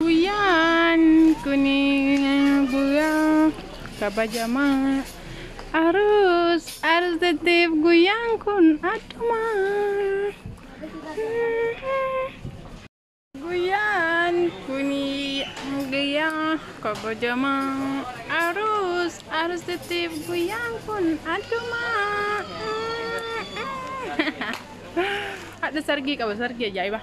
Guyyaan kun guyyaa kabajamaa Aruus Arzetteef guyyaan kun addumaa. Guyyaan kun guyyaa kabajamaa Aruus Arzetteef guyyaan kun addumaa. Hadha sargii qaba sargii ajaa'ibaa.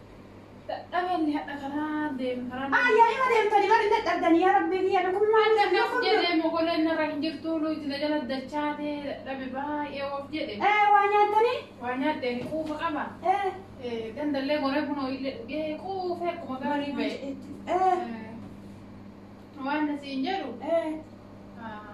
Dadhabe inni hadha karaa deemu karaa deemu. Haa yaa hima deemtanii maal hin dadhabdanii yaa rabbii kiyya na kun maal Adda kaf jedhee mogoleen irra hin jirtu luuti na jala dachaatee dadhabe baay'ee of jedhe. Ee waa nyaatanii? Waa nyaadhee ni quufa qaba. Ee Dandallee goree bunoo illee dhugee quufee akkuma gaarii ba'e. ee Waan na siin jedhu ee. ah,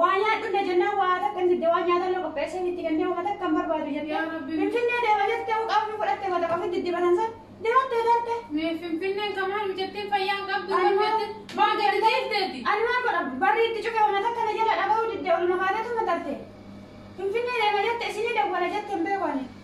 Waa nyaadhu na jennaan waa takka hin didde waan nyaatan illee qopheessee itti kennee waan takka hin barbaadu Yaa jettee. Rabbi. Finfinnee deema jettee uqaa ofii fudhattee waan takka ofii diddibanan san deemattee darbee. Mee finfinneen kan maal hojjettiin fayyaan qabdu hojjettin maa gadi dhiifteeti. Ani maal godha barri itti cufe waan takka na jala dhaga'uu didde oluma kaateetu na tarte. Finfinnee deema jette isinii dawwala jette hin beeku ani.